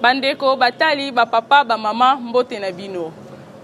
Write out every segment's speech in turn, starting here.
Bandeko batali, ba papa, ba mama, mbote na bino.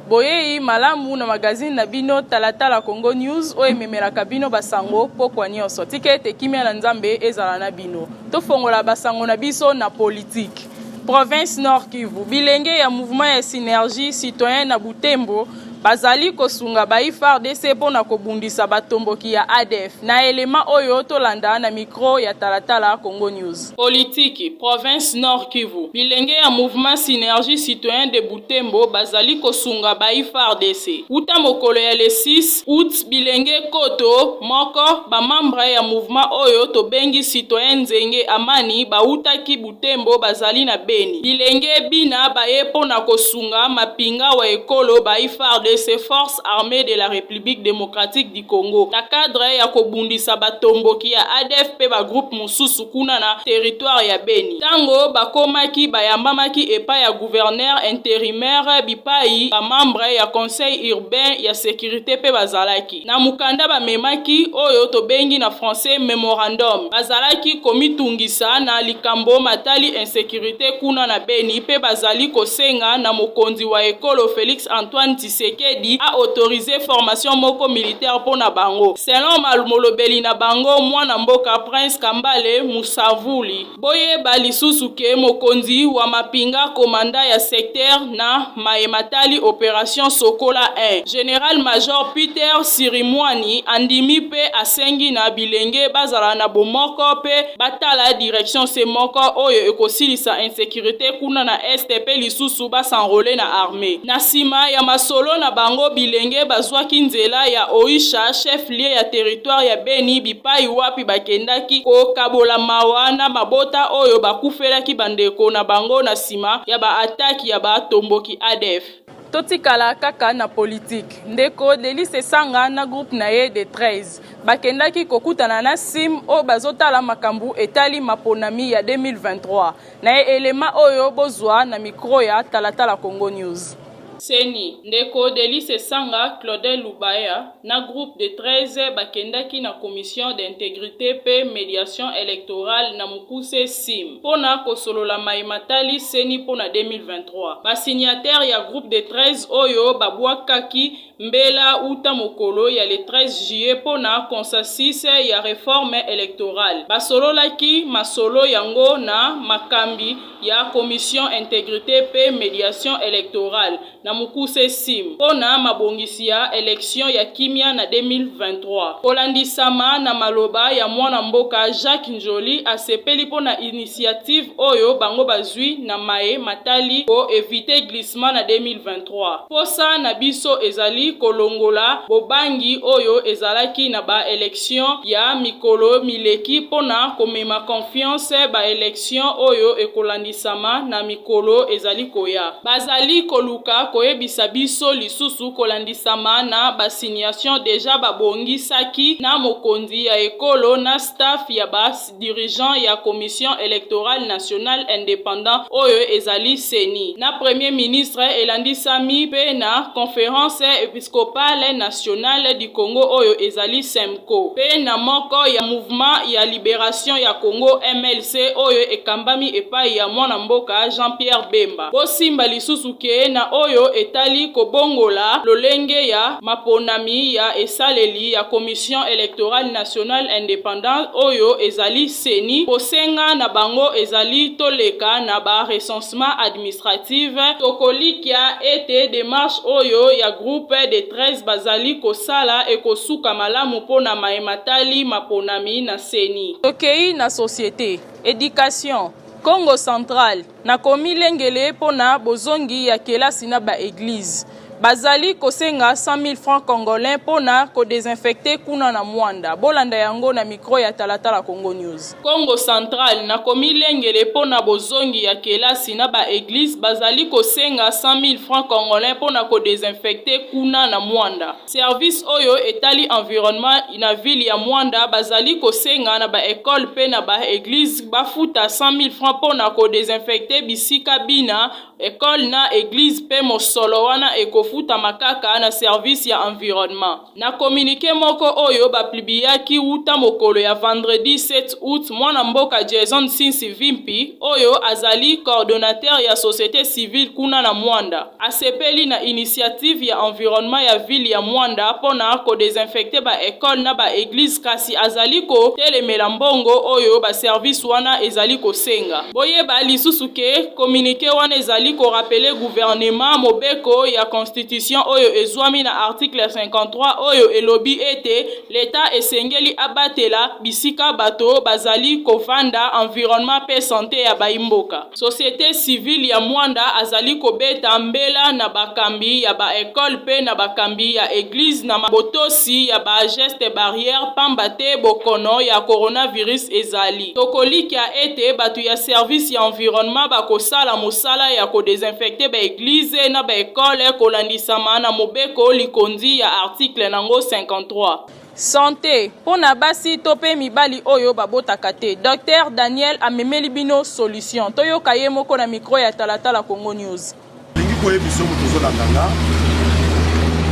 Boyei malamu na magazine na bino Talatala Congo News oyo ememelaka bino basango pokwa nyonso. Tika ete kimia na Nzambe ezala na bino. Tofongola basango na biso na politique. Province Nord Kivu, bilenge ya mouvement ya synergie citoyen na Butembo Bazali kosunga bayi fardc mpo na kobundisa batomboki ya adf, na element oyo tolanda na micro ya talatala Congo News. Politiki, Province Nord Kivu, bilenge ya Mouvement Synergie Citoyen de Butembo bazali kosunga bayi fardc. Wuta mokolo ya le 6 aout, bilenge nkoto moko, ba membres ya mouvement oyo tobengi Citoyen Nzenge Amani bawutaki Butembo, Butembo bazali na Beni. Bilenge bina baye mpo na kosunga mapinga wa ekolo bayi fardc, Forces armees de la Republique democratique du Congo, na cadre ya kobundisa batomboki ya adf mpe ba groupes mosusu kuna na territoire ya Beni. Tango bakomaki, bayambamaki epai ya gouverneur interimaire bipayi ba membres ya conseil urbain ya securite mpe bazalaki. na mokanda bamemaki, oyo tobengi na français memorandum, bazalaki komitungisa na likambo matali insecurite kuna na Beni mpe bazali kosenga na mokonzi wa ekolo Felix Antoine Tshisekedi a autoriser formation moko militaire mpo na bango, selon molobeli na bango, mwana mboka Prince Kambale Musavuli. Boyeba lisusu que mokonzi wa mapinga commandant ya secteur na maye matali operation Sokola I, General-major Peter Sirimwani andimi mpe asengi na bilenge bazala na bomoko mpe batala direction se moko oyo ekosilisa insecurite kuna na Est mpe lisusu ba s'enroler na armee. Na sima ya masolo na bango, bilenge bazwaki nzela ya Oisha, chef-lieu plie ya territoire ya Beni bipayi wapi bakendaki kokabola mawa na mabota oyo bakufelaki bandeko na bango na sima ya ba attaques ya ba tomboki adf. Totikala kaka na politique, ndeko Delly Sessanga na groupe na ye des 13 bakendaki kokutana na sim oyo bazotala makambu etali maponami ya 2023 na element oyo bozua na micro ya Talatala Congo News. Ceni, ndeko Delice Sanga, Claudel Lubaya na groupe de 13 bakendaki na Commission d'integrite mpe mediation electorale na mokuse, cim, mpo na kosolola maye matali ceni mpo na 2023. Ba signataires ya groupe de 13 oyo babwakaki mbela uta mokolo ya le 13 juillet mpo na consensus ya reforme electorale basololaki masolo yango na makambi ya Commission Integrite mpe Mediation Electorale na mokuse, CIM, mpo na mabongisi ya election ya kimia na 2023. Kolandisama na maloba ya mwana mboka Jacques N'Djoli, asepeli mpo na initiative oyo bango bazwi na maye matali ko eviter glissement na 2023. Mposa na biso ezali kolongola bobangi oyo ezalaki na ba elections ya mikolo mileki mpo na komema confiance ba elections Sion oyo ekolandisama na mikolo ezali koya. Bazali koluka koyebisa biso lisusu kolandisama na ba signations dejà ba bongisaki na mokonzi ya ekolo na staff ya ba dirigeants ya Commission electorale nationale independant oyo ezali ceni, na Premier ministre, elandisami mpe na Conference episcopale. Episcopale nationale du Congo oyo ezali Cemco, mpe na moko ya Mouvement ya Liberation ya Congo, mlc, oyo ekambami epayi ya mwana mboka Jean-Pierre Bemba. Bosimba lisusu ke na oyo etali kobongola lolenge ya maponami ya esaleli ya Commission electorale nationale independante oyo ezali ceni, bosenga na bango ezali toleka na ba recensement. Reclassement administratif, tokolikya ete demarche oyo ya groupe des 13 bazali kosala ekosuka malamu mpo na maye matali maponami na ceni. Tokeyi na societe, education, Kongo central, na komilengele mpo na bozongi ya kelasi na ba eglises. Bazali kosenga 100 000 francs congolais mpo na kodesinfecte kuna na Mwanda. Bolanda yango na mikro ya Talatala Congo News. Kongo central, na komilengele mpo na bozongi ya kelasi na ba eglises, bazali kosenga 100 000 francs congolais mpo na kodesinfecte kuna na Mwanda. Service oyo etali environnement na ville ya Mwanda bazali kosenga na ba ecoles mpe na ba eglises bafuta 100 000 francs mpo na kodesinfecte bisika bina Ecole na eglise mpe mosolo wana ekofutama kaka na service ya environnement. Na communique moko oyo ba plibiyaki wuta mokolo ya vendredi 7 aout, mwana mboka Jason Nsinsi Vimpi, oyo azali coordonateur ya societe civile kuna na Moanda, asepeli na initiative ya environnement ya ville ya Moanda mpo na ko desinfecter ba ecoles na ba eglises kasi azali ko telemela mbongo oyo ba services wana ezali kosenga. Boyeba lisusu ke. Communique wana ezali ko rappeler gouvernement mobeko ya constitution oyo ezwami na article 53 oyo elobi ete l'Etat esengeli abatela bisika bato bazali kovanda, environnement mpe sante ya bayi mboka. Societe civile ya Moanda azali kobeta mbela na bakambi ya ba ecoles mpe na bakambi ya eglise na botosi ya ba gestes barrières pamba te bokono ya coronavirus ezali. Tokolikia ete bato ya service ya environnement bakosala mosala ya ko desinfecter ba eglises na ba ecoles kolandisama na mobeko likonzi ya article na ngo 53. Sante mpo na basi to mpe mibali oyo babotaka te, Docteur Daniel amemeli bino solution. Toyoka ye moko na micro ya Talatala Congo News. Lingi koyebiso moto ozolanda nga.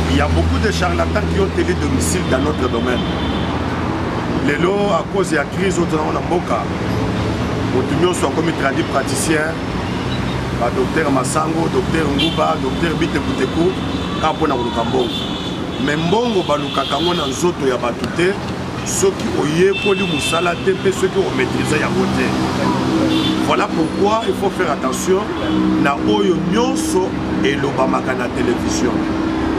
Il y a beaucoup de charlatans qui ont tenu domicile dans notre domaine. Lelo à cause ya crise oyo tozango na mboka, moto nyonso akomi tradi praticien, ba docteur Masango, docteur Nguba, docteur Bite Buteku, kaka mpo na koluka mbongo. Mais mbongo balukaka yango na nzoto ya bato te, soki oyekoli mosala te mpe soki omaîtrise yango te voilà pourquoi il faut faire attention na oyo nyonso elobamaka na télévision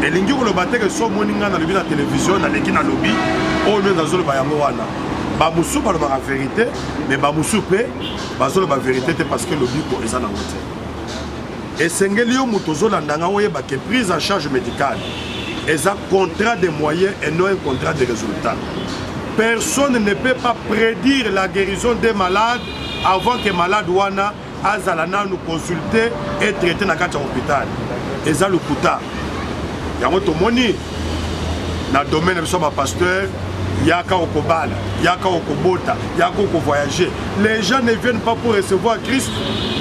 elingi koloba te ke so omoni ngai nalobi na télévision naleki nalobi oyo nde nazoloba yango wana bamosusu balobaka verité mais bamosusu mpe bazoloba verité te parce que lobiko eza nango te Esengeli yo moto ozolanda nga oyeba ke prise en charge médicale eza contrat de moyen et non un contrat de résultat. Personne ne peut pas prédire la guérison des malades avant que malade wana azala nanu consulter et traiter na kati ya hôpital. Eza lokuta. Yango tomoni na domaine na biso bapasteur yaka okobala yaka okobota yaka okovoyage les gens ne viennent pas pour recevoir christ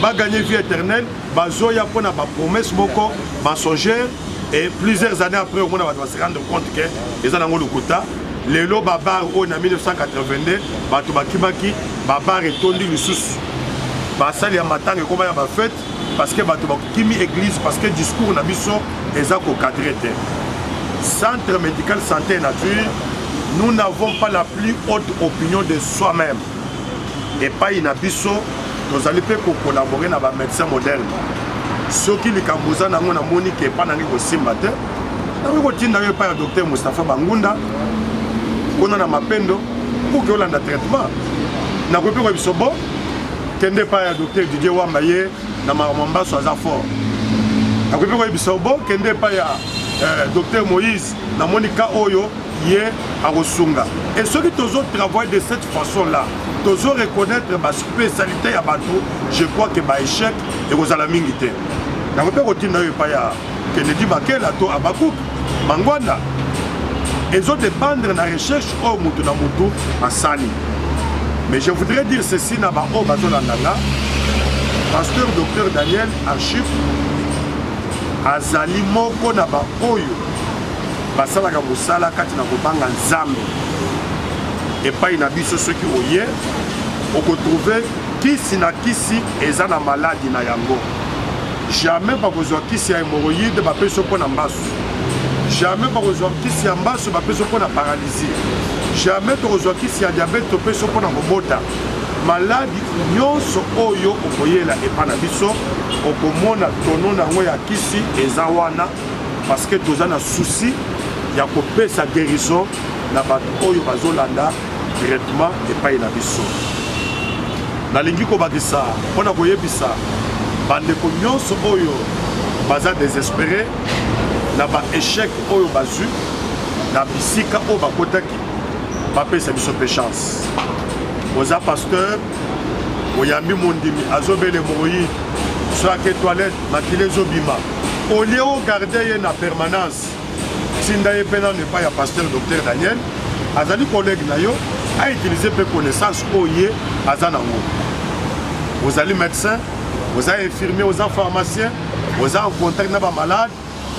baganye vie éternelle bazoya mpo na bapromesse moko mensongère et plusieurs années après omona bato base rendre compte ke eza nango lokuta lelo babar oyo na 1982 bato bakimaki babar etondi lisusu basali ya matanga ekoma ya bafete parce que bato bakimi église parce que discours na biso eza kocadre te centre médical santé nature nous n'avons pas la plus haute opinion de soi-même epai na biso tozali mpe kokolabore na bamédecin moderne soki likambo oza nango namoni ke epai nange kosimba te nakoki kotinda yo epai ya docteur mustapha bangunda kuna na mapendo pour ke olanda traitement nakoki mpe koyebiso bo kende epai ya docteur didier wamba ye na makambo ya mbaso aza fort akoki mpe koyebisa yo bo kende epai ya eh, docteur moïse namoni ka oyo ye akosunga e soki tozo travaille de cette façon là tozo reconnaître baspécialité ya bato je crois que baéchec ekozala mingi te yango mpe kotinda yo epai ya Kennedy Bakela to Abakuk Mangwanda ezo dépendre na recherche oyo moto na moto asali mais je voudrais dire ceci na baoyo bazolanda nga pasteur docteur daniel archive azali moko na baoyo basalaka mosala kati na kobanga nzambe epai na biso soki oye okotrouve kisi na kisi eza na maladi na yango Jamais bakozwa kisi ya hemorroïde bapesi yo mpo na mbasu. Jamais bakozwa kisi ya mbasu bapesi yo mpo na paralysie. Jamais tokozwa kisi ya diabete topesi yo mpo na kobota. Maladi nyonso oyo okoyela epa na biso okomona tono na yango ya kisi eza wana parce que toza na souci ya kopesa guérison na bato oyo bazolanda directement epai na biso nalingi kobakisa mpo na koyebisa bandeko nyonso oyo baza desespere na baechec oyo bazwi na bisika oyo bakotaki bapesa biso mpe chance oza pasteur oyambi mondimi azobele moyi soki ake toilette makila ezobima olie ogarde ye na permanence Tinda ye mpe nano epai ya pasteur Docteur Daniel, azali collègue na yo, a utiliser mpe connaissance oyo ye aza nango. Ozali médecin, oza infirmier, oza pharmacien, oza en contact na ba malade,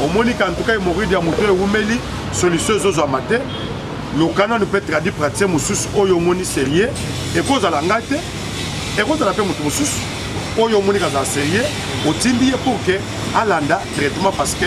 omoni ka ntuka hemorroïde ya moto ewumeli, solution ezozwama te, luka nano mpe tradi praticien mosusu oyo omoni serieux, ekozala ngai te, ekozala mpe moto mosusu oyo omoni kazala serieux, otindi ye pour que alanda traitement parce que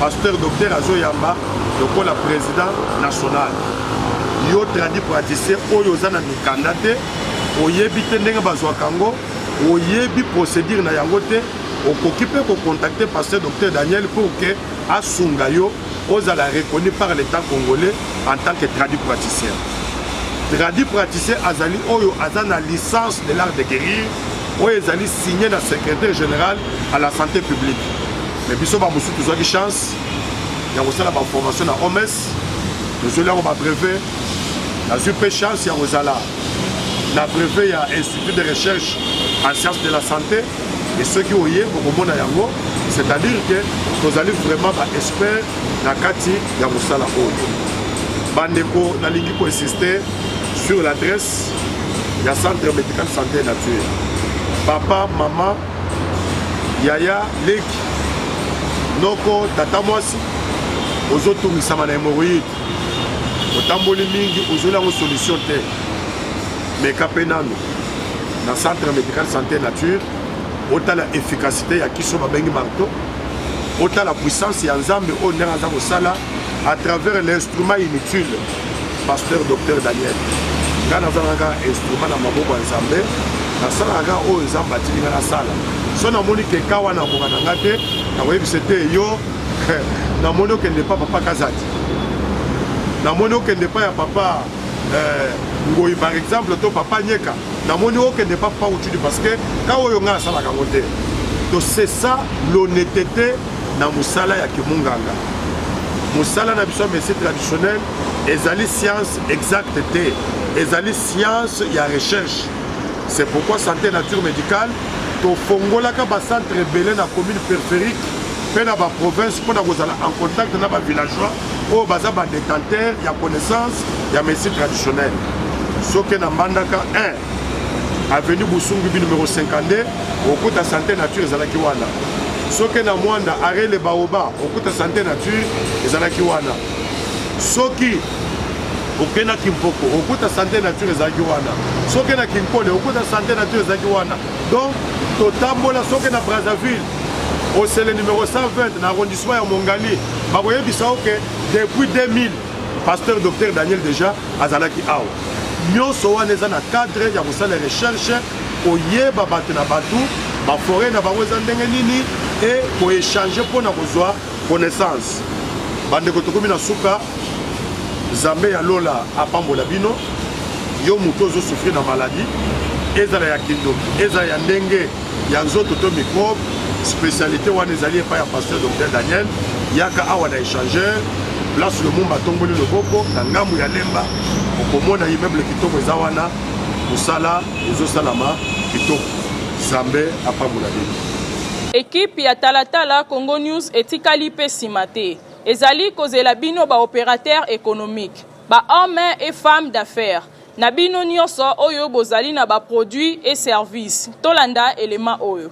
Pasteur docteur azoyamba lokola president national yo tradi praticien oyo oza na mikanda te oyebi te ndenge bazwaka yango oyebi procédure na yango te okoki mpe kocontacte pasteur docteur daniel pour ke asunga yo ozala reconnu par l'état congolais en tant que tradi praticien tradi praticien azali oyo aza na licence de l'art de guérir oyo ezali signe na secrétaire général à la santé publique Mais biso ba mususu tozwaki chance ya kosala ba formation na OMS tozweli yango ba brevet nazwi mpe chance ya kozala na brevet ya institut de recherche en science de la santé e soki oye okomona yango c'est-à-dire que tozali vraiment ba expert na kati ya mosala oyo bandeko nalingi koinsiste sur l'adresse ya centre médical santé nature papa mama yaya leki noko tata mwasi ozotungisama na hemoroïde otamboli mingi ozweli yango solution te meka mpe nano na centre médical santé nature otala efficacité ya kiso babengi marto otala puissance ya nzambe oyo ndenge aza kosala à travers l'instrument inutile pasteur docteur daniel ngai nazalaka instrument na maboko ya nzambe nasalaka oyo nzambe atiki ngai nasala so namoni ke ka wana akoka na ngai te nakoyebisa te yo namoni okende pa papa kazati namoni okende pa ya papa eh, ngoi par exemple to papa nyeka namoni okende pa papa utudi parce que ka oyo ngai asalaka yango te to c'est ça l'honnêteté na mosala ya kimunganga mosala na biso ya médecine traditionnelle ezali science exacte te ezali science ya recherche c'est pourquoi santé nature médicale tofongolaka bacentre ebele na commune périphérique mpe na baprovince mpo na kozala en contact na bavillageois oyo baza badétenteur ya connaissance ya médecine traditionnelle soki na mbandaka 1 avenue busungu bi numero 52 okuta sante nature ezalaki wana soki na mwanda are le baoba okuta sante nature ezalaki wana soki oke na kimpoko okuta sante nature ezalaki wana soki na kinkole okuta sante nature ezalaki wana donc totambola soki na brazzaville osele numero 120 na arrondissement ya mongali bakoyebisa oke depuis 2000 Pasteur Docteur Daniel deja azalaki awa. Nyoso wana eza na cadre ya kosala recherche, koyeba bato na bato, ba foret na bango eza ndenge nini et ko échanger mpo na kozwa connaissance. Bandeko tokomi na suka, Zambe ya lola apambola bino. Yo moto ozo souffrir na maladie, ezala ya kindoki, ezala ya ndenge ya nzoto to microbe specialité wana ezali epai ya pasteur docteur daniel yaka awa na échangeur place lomumba atomboli loboko na ngambo ya lemba okomona immeuble kitoko eza wana mosala ezosalama kitoko zambe apambola bino ekipe ya talatala congo news etikali mpe nsima te ezali kozela bino baopérateur économique bahomme et femme d'affaires Na bino nioso oyo bozali na ba produits et services, tolanda element oyo.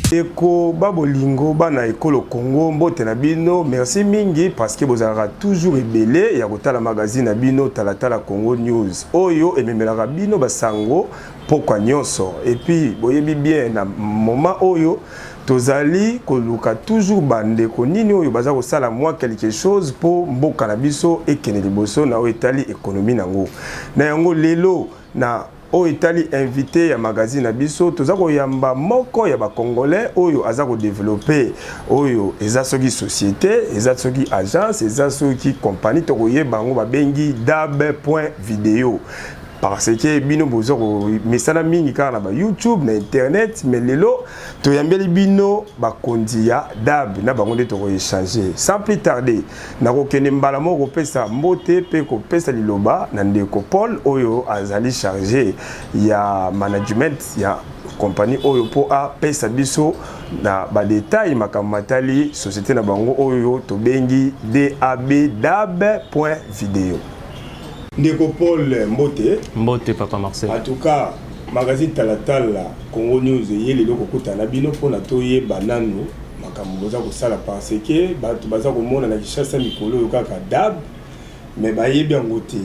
ndeko babolingo bana ekolo congo mbote na bino merci mingi parce que bozalaka toujours ebele ya kotala magazine na bino talatala congo news oyo ememelaka bino basango pokwa nyonso epuis boyebi bien na moment oyo tozali koluka toujours bandeko nini oyo baza kosala mwa quelque chose mpo mboka na biso ekende liboso na oyo etali ekonomi na yango na yango lelo na oyo etali invité ya magazine na biso toza koyamba moko ya bacongolais oyo aza kodeveloppe oyo eza soki société eza soki agence eza soki compagnie tokoyeba yango babengi dab point video parce que bino boza komesana mingi kaka na bayoutube na internet mais lelo toyambeli bino bakonzi ya dab na bango nde tokoechange sans plus tarde nakokende mbala moko kopesa mbote mpe kopesa liloba na ndeko paul oyo azali charge ya management ya compagnie oyo mpo apesa biso na badetail makambo matali société na bango oyo tobengi dab dab point video ndeko paul mbote mbote papa marcel en tout cas magazine talatala congo news eye lelo kokutana na bino mpona toyeba nanu makambo boza kosala parce que bato baza komona na kishasa mikolo oyo kaka dab mais bayebi yango te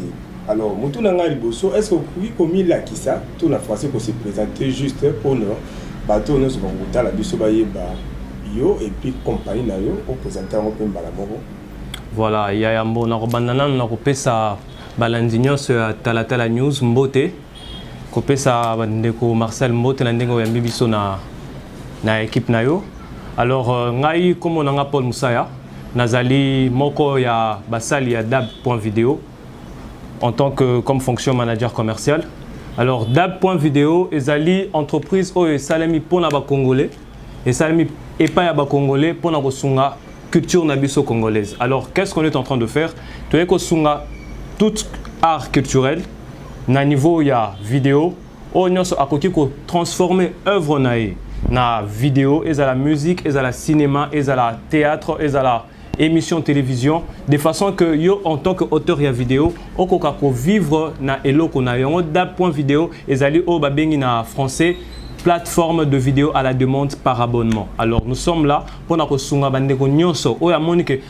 alors mutu na ngai liboso est ce que okoki komilakisa to na français ko se présenter juste mpona bato oyo nyonso bakokotala biso bayeba yo epuis compagnie na yo opresente yango mpe mbala moko voilà ya yambo nakobanda nano na kopesa balandi nyonso ya talatala news mbote kopesa bandeko Marcel mbote na ndenge oyambi biso na, na ekipe na yo alors euh, ngai nkombo na ngai Paul Musaya nazali moko ya basali ya dab point video en tant que comme fonction manager commercial alors dab point video ezali entreprise oyo esalemi mpo na bacongolais esalemi epai ya ba congolais mpo na kosunga culture na biso congolaise alors qu'est-ce qu'on est en train de faire toyei kosunga tout art culturel na niveau ya video oyo nyonso akoki kotransforme œuvre na ye na video ezala musique ezala cinéma ezala théâtre ezala émission télévision de façon que yo en tant que auteur ya vidéo okoka ko vivre na eloko na yango da point vidéo ezali oyo babengi na français plateforme de vidéo à la demande par abonnement alors nous sommes là mpo na kosunga bandeko nyonso oyo amoni ke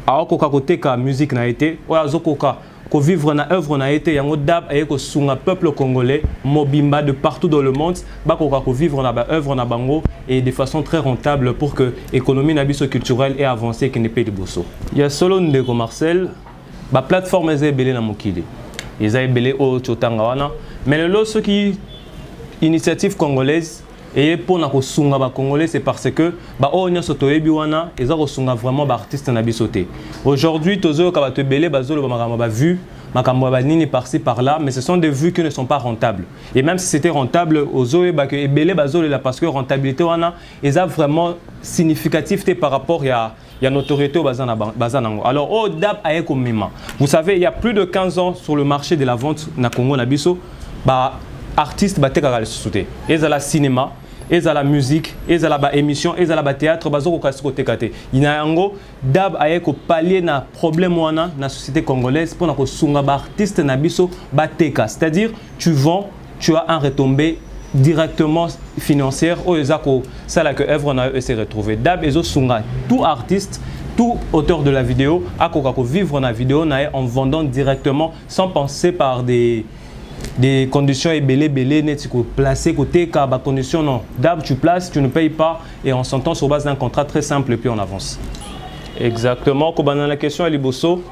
aokoka koteka musique na ye te oyo azokoka ko vivre na œuvre na ye te yango dab aye ko sunga peuple congolais mobimba de partout dans le monde ba koka ko vivre na ba œuvre na bango et de façon très rentable pour que économie na biso culturelle et avancer qui ne peut liboso ya solo ndeko Marcel ba plateforme eza ebele na mokili eza ebele oyo totanga wana mais lelo soki initiative congolaise eye mpo na kosunga ba congolais c'est parce que ba oyo nyonso toyebi wana eza kosunga vraiment ba artistes na biso te aujourd'hui tozoyoka bato ebele bazoloba makambo ba vue makambo ya banini par-ci par-là mais ce sont des vues qui ne sont pas rentables et même si c'était rentable ozoyeba que ebele bazolela parce que rentabilité wana eza vraiment significatif te par rapport ya ya notoriété oyo baza na ba- baza nango alors oyo dab aye komema vous savez il y a plus de 15 ans sur le marché de la vente na congo na biso ba artiste batekaka lisusu te ezala cinéma ezala musique ezala ba émission ezala ba théâtre bazokoka si koteka te na yango dab aye kopalie na problème wana na société congolaise mpo na kosunga ba artiste na biso bateka c'est à dire tu vends tu as un retombé directement financière oyo eza kosala que œuvre na yo ese retrouver dab ezosunga tout artiste tout auteur de la vidéo akoka kovivre na vidéo na ye en vendant directement sans penser par des des conditions ebele ebele neti koplace koteka bacondition non dab tu place tu ne paye pas et on s'entend sur base d'un contrat très simple et puis on avance exactement kobanda na question ya liboso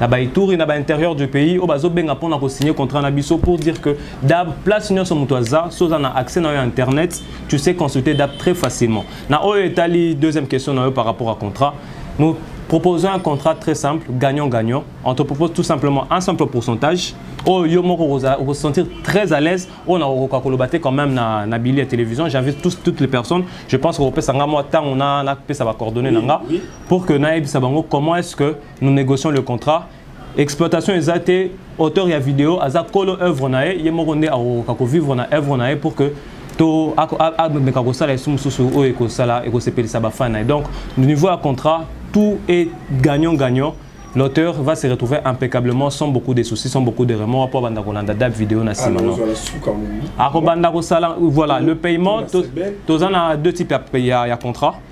na ba ituri na ba intérieur du pays oyo bazobenga mpona kosigne contrat na biso pour dire que dab place nyonso moto aza so oza na accès na yo ya internet tu sais consulter dab très facilement na oyo etali deuxième question na yo par rapport à contrat nous proposons un contrat très simple gagnant gagnant on te propose tout simplement un simple pourcentage oyo yo moko okosentir très à l'aise oyo na okokoka koloba te quand même na, na bili ya télévision j'invite tous, toutes les personnes je pense kokopesa nga mwa ntango napesa bacoordonné na nga pour que nayebisa bango comment est ce que nous négocions le contrat exploitation eza te auteur ya video aza kolo œuvre na ye ye moko nde akokoka kovivre na œuvre na ye pour que to ameka kosala esu mosusu oyo ekosala ekosepelisa bafani na ye donc niveau ya contrat tout est gagnant gagnant l'auteur va se retrouver impeccablement sans beaucoup de soucis, sans beaucoup de remords pour banda kolanda date vidéo na sima non. Ako banda kosala voilà le paiement tous on a deux types ya, ya contrat.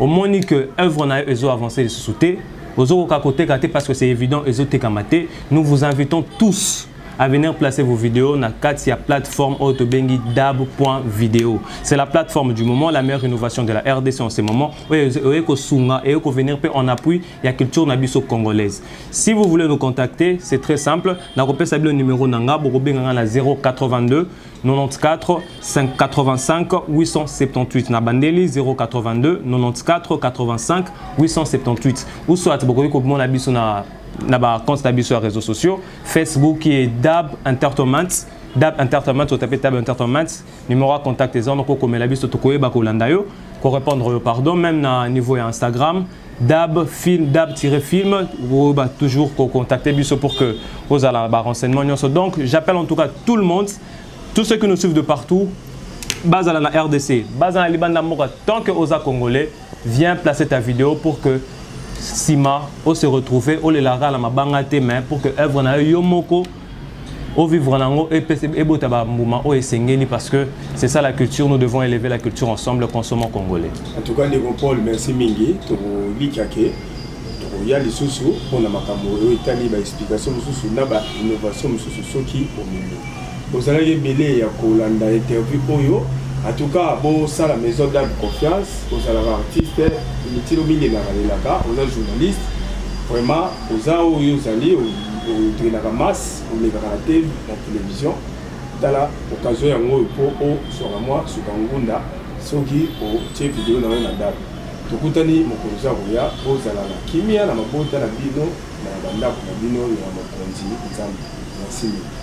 omoni que œuvre na yo ezo avancer lisusu te ozokoka koteka te parce que c'est évident ezotekama te nous vous invitons tous à venir placer vos vidéos na kati ya plateforme oyo tobengi dab.video c'est la plateforme du moment la meilleure innovation de la rdc en ce moment oyo oye kosunga eye kovenir mpe en appui ya culture na biso congolaise si vous voulez nous contacter c'est très simple nakopesa bino numero na nga bokobenga nga na 082 94 585 878 na bandeli 082 94 85 878 ou soit bokoki komona biso na na ba compte na biso ya réseaux sociaux facebook et dab entertainment dab entertainment otape dab entertainment numéro ya contact eza wana kokomela biso tokoyeba kolanda yo korépondre yo pardon même na niveau ya instagram dab film dab tiré film vous bah, toujours contacter biso pour que vous allez avoir renseignements donc j'appelle en tout cas tout le monde tous ceux qui nous suivent de partout bazala na rdc bazala na libanda mboka tant que oza congolais viens placer ta vidéo pour que sima o se retrouver olelaka na mabanga te mais pour que œuvre na yo yo moko au vivre nango et ebota ba mbuma o esengeli parce que c'est ça la culture nous devons élever la culture ensemble consommons congolais en tout cas ndeko Paul merci mingi tokolika ke tokoya lisusu mpo na makambo oyo etali ba explication mosusu na ba innovation mosusu soki omemi ozalaki ebele ya kolanda interview oyo en tout cas bosala maison d'âme confiance ozalaka artiste mitilo mingi elaka lelaka oza journaliste vraiment Oza oyo ozali otrainaka masse olekaka na te na television tala occasion yango oyo mpo ozwaka mwa suka ngunda soki otie video na yo na ndako tokutani mokolo oza koya ozala na kimia na mabota na bino na bandako na bino ya mokonzi nzambe merci mingi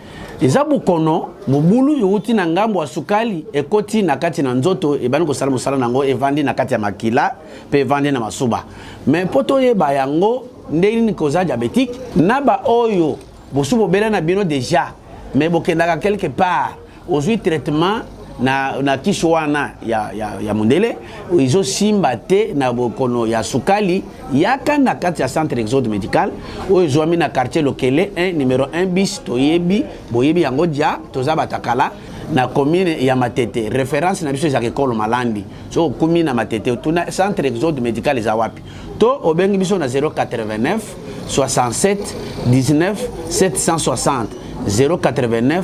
eza bokono mobulu yowuti na ngambo ya sukali ekoti na kati na nzoto ebandi kosala mosala na yango evandi na kati ya makila mpe evandi na masuba me mpo toyeba yango ndenge nini koza diabetike na baoyo bosu bobela na bino deja me bokendaka quelque part ozwi traitement na, na kisi wana ya, ya, ya mondele ezosimba te na bokono ya sukali yaka na kati ya centre exode médical oyo ezwami na quartier lokele 1 numero 1 bis toyebi boyebi yango dia toza batakala na commune ya matete référence na biso ezaka ekolo malandi so okumi na matete otuna centre exode médical eza wapi to obengi biso na 089 67 19 760 089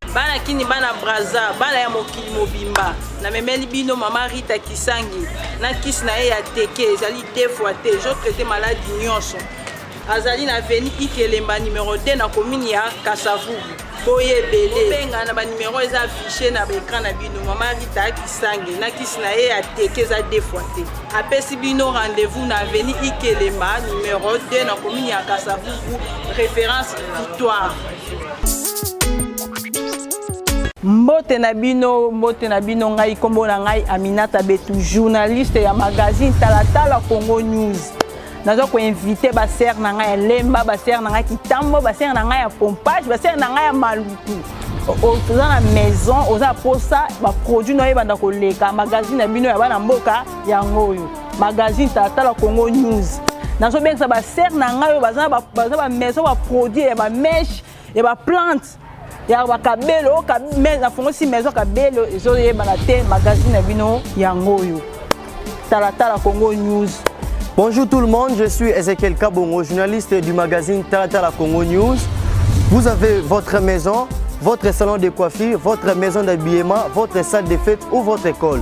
bana kini bana braza bana ya mokili mobimba namemeli bino mama rita kisangi na kisi na ye ya teke ezali deux fois te ezotraite maladi nyonso azali na veni ikelemba numero 2 na komini ya kasavubu boye ebele obenga na banumero eza affiche na baekran na bino mama rita kisangi na kisi na ye ya teke eza deux fois te apesi bino rendez-vous na veni ikelemba numero 2 na komini ya kasavubu référence victoire mbote na bino mbote na bino ngai nkombo na ngai aminata betu journaliste ya magazine talatala congo news naza koinvite basere na ngai ya lemba basere na ngai kitambo basere na ngai ya pompage basere na ngai ya maluku oza na maison oza mposa baproduit na yo ebanda koleka magazine na bino ya bana mboka yango oyo magazine tala congo news nazobengisa basere na ngai oyo baza ba maison baproduit ya bameshe ya baplante ya bakabelo nafongosi maison kabelo ezoyebana te magazine na bino yango oyo talatala congo news Bonjour tout le monde, je suis Ezekiel Kabongo, journaliste du magazine Talatala Congo News. Vous avez votre maison, votre salon de coiffure, votre maison d'habillement, votre salle de fête ou votre école.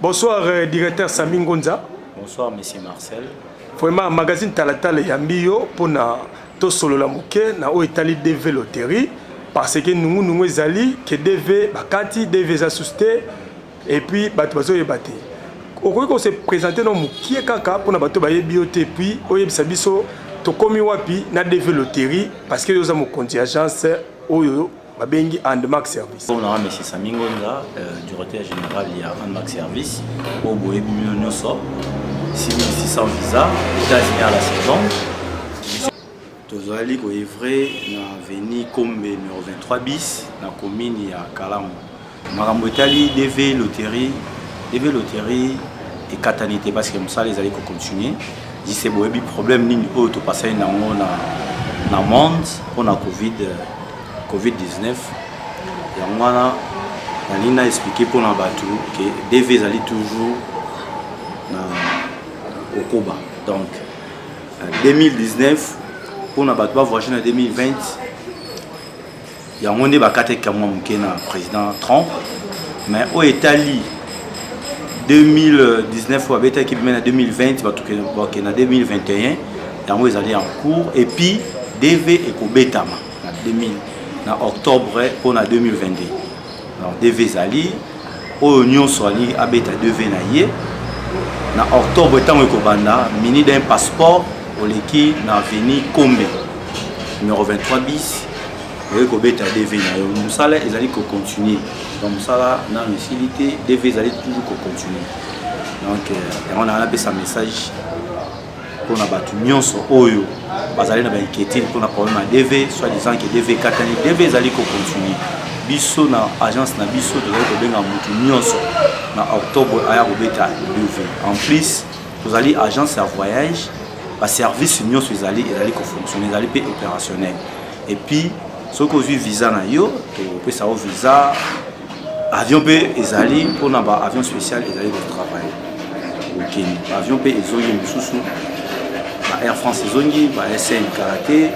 Bonsoir euh, directeur Sami Ngonza. Bonsoir monsieur Marcel. Vraiment magazine Talatala eyambi yo mpo na tosolola moke na oyo etali DV loterie parce que nungu nungu ezali ke DV bakati DV eza susu te et puis bato bazoyeba te okoki kose présente na mokie kaka mpo na bato bayebi yo te et puis oyebisa biso tokomi wapi na DV loterie parce que yo oza mokonzi agence oyo babengi andmac service mpo na mesi sami ngonza euh, directeur général ya andmac service oyo boyebi bino nyonso 6600 visa états-unis à la saison tozali koevre na veni kombe numero 23 bis na commune ya kalamu Makambo etali DV loterie, DV loterie ekatani te parce que mosala ezali ko continuer jise boyebi problème nini oyo topasani nango na, na monde mpo na covid, covid 19 yango wana nalingi na explike mpo na bato ke dv ezali toujours na kokoba donc 2019 mpo na bato bavoyage na 2020 yango nde bakataki kamwa moke na président trump mais oyo etali 2019 oyo abetaki bime na 2020 batoke na 2021 yango ezali en cours epuis dv ekobetama na 2000 na octobre mpo na 2022 alors dv ezali oyo nyonso alingi abeta dv na ye na octobre ntango ekobanda mini d'un passeport oleki na aveni kombe numero 23 bis okoki kobeta dv na yo mosala ezali kocontinue donc mosala nano esili te dv ezali toujours kocontinue donc euh, yango na napesa message mpona bato nyonso oyo bazali na bainquiétude mpona problème ya dv soit disant ke dv ekatani dv ezali kocontinue biso na agence na biso tozali kobenga motu nyonso na octobre aya kobeta dv en plus tozali agence ya voyage baservice nyonso ezali ezali kofonctionne ezali mpe opérationnel epuis soki ozwi visa na yo topesa yo visa avion mpe ezali mpona ba avion spécial ezali ko travaille okende ba avion mpe ezongi mosusu ba air france ezongi ba sn kala te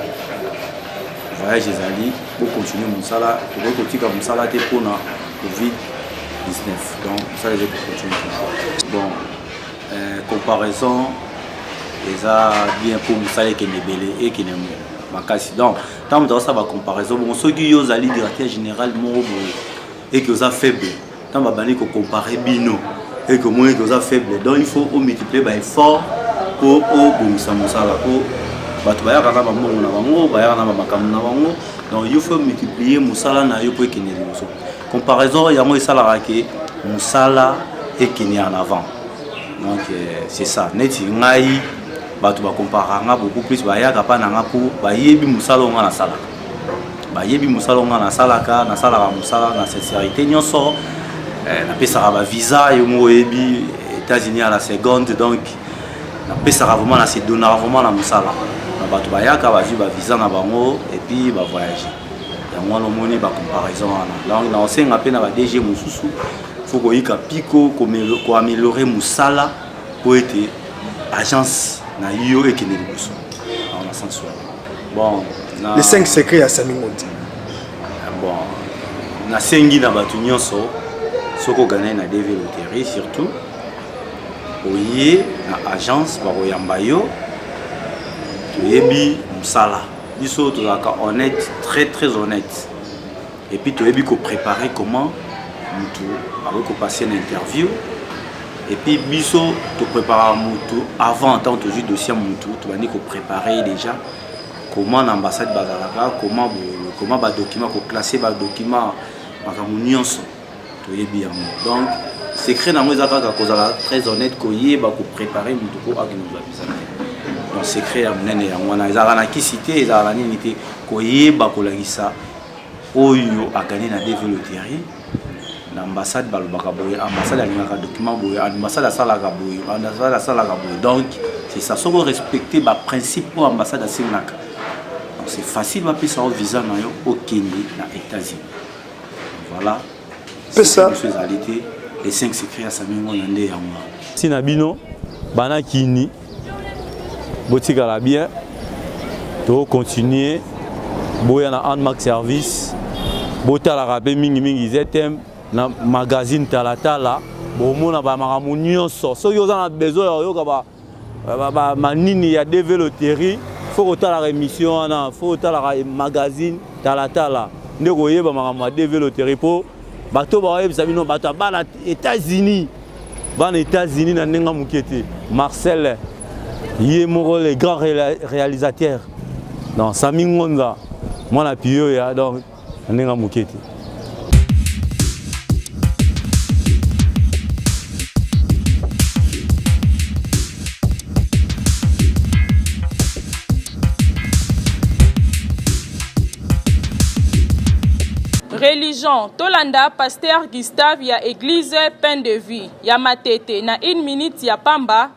voyage ezali bocontinue mosala tokoki kotika mosala te mpona covid 19 donc mosala ezali kocontinue toujours bon euh, comparaison eza bien mpo mosala ekende ebele ekende makasi donc ntango moto akosala bacomparaison bongo soki yo ozali directeur général moko boye eke oza faible ntango babandi kocompare bino eke omoni eke oza faible donc il faut omultiplie baeffort mpo obongisa mosala mpo bato bayaka na bambongo na bango bayaka na bamakambo na bango donc yo faut multiplier mosala na yo mpo ekende liboso comparaison yango esalaka ke mosala ekende en avant donc euh, c'est ça neti ngai bato bakomparaka nga beaucoup plus bayaka mpa na nga mpo bayebi mosala onga nasalaka bayebi mosala onga nasalaka nasalaka mosala na sincérité nyonso eh, napesaka bavisa yo moko oyebi états-unis à la seconde donc napesaka vraiment na sedonaka vraiment na mosala na bato bayaka bazwi bavisa na bango epuis bavoyage yango wana omoni bacomparaison wana donc naosenga mpe na badg mosusu fo koyika mpiko koameliore mosala mpo ete agence na yo ekende liboso na sense wana bon na... les 5 secret ya sami moti ah, bon nasengi na bato nyonso soki oganai na dv loterie surtout oye na agence bakoyamba yo toyebi mosala biso tozalaka honnête très très honnête Et puis toyebi ko préparer comment mutu akoki ko passer na interview et puis biso to préparer mutu avant tant tozwi dossier mutu tobandi ko préparer déjà comment na ambassade bazalaka comment comment ba document ko classer ba document makambo nyonso toyebi yango donc secret nango eza kaka kozala très honnête koyeba ko préparer mutu ko akende kozwa visa na ye donc secret ya monene yango wana ezalaka na kisi te ezalaka na nini te koyeba kolakisa oyo agani na deve loterie na ambassade balobaka boye ambassade alingaka document boye ambassade asalaka boye ambassade asalaka boye donc c'est ça soki orespecte baprincipe oyo ambassade asengaka donc c'est facile bapesa yo visa na yo okende na états-unis voilà pesa biso ezali te les 5 secrets ya sami ngona nde yango wana ntina bino bana kini botikala bien tokocontinue boya na anmark service botalaka mpe mingimingi ztm na magazine talatala bomona bamakambo nyonso soki oza na besoin ya koyoka manini ya deve loterie fo kotalaka émission wana fo kotalaka magazine talatala nde koyeba makambo ya deve loterie mpo bato bakoyebisa bino bato ya bana états-unis bana états-unis na ndenge moke te marcel ye moko le grand réalisateur donc sami ngonza mwana piyoya donc na ndenge ya moke te. religion tolanda pasteur gustave ya eglise pain de vie ya matete na une minute ya pamba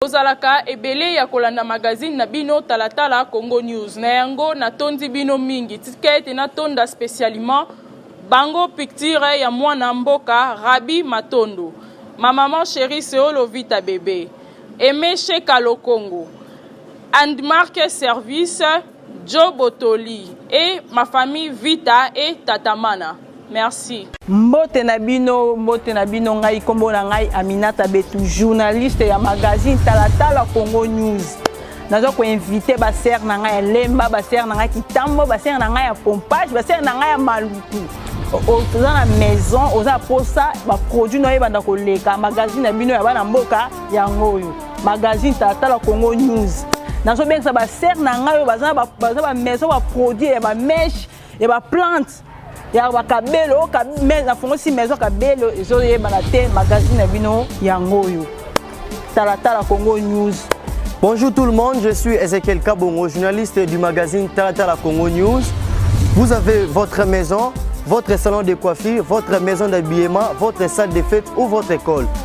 Bozalaka ebele ya kolanda magazine na bino talatala Congo News. Na yango natondi bino mingi. Tika ete natonda specialement bango picture ya mwana mboka Rabi Matondo. Ma maman chérie Seolo Vita Bebe. Aimé Sheka Lokongo. And Marque Service Djo botoli et ma famille vita et tata mana merci. Mbote na bino mbote na bino ngai kombo na ngai Aminata Betu journaliste ya magazine talatala Congo News naza koinvite basere na ngai ya lemba basere na ngai kitambo basere na ngai ya pompage basere na ngai ya maluku oza na maison oza na mposa baproduit na yo ebanda koleka magazine na bino ya bana mboka yango oyo magazine tala congo news nazobengisa basere na ngai oyo baza ba maison baproduit ya bameshe ya baplante ya bakabelo nafongosi maison kabelo ezoyebana te magazine na bino yango oyo talatala congo news Bonjour tout le monde, je suis Ezekiel Kabongo, journaliste du magazine Talatala Congo News. Vous avez votre maison, votre salon de coiffure, votre maison d'habillement, votre salle de fête ou votre école.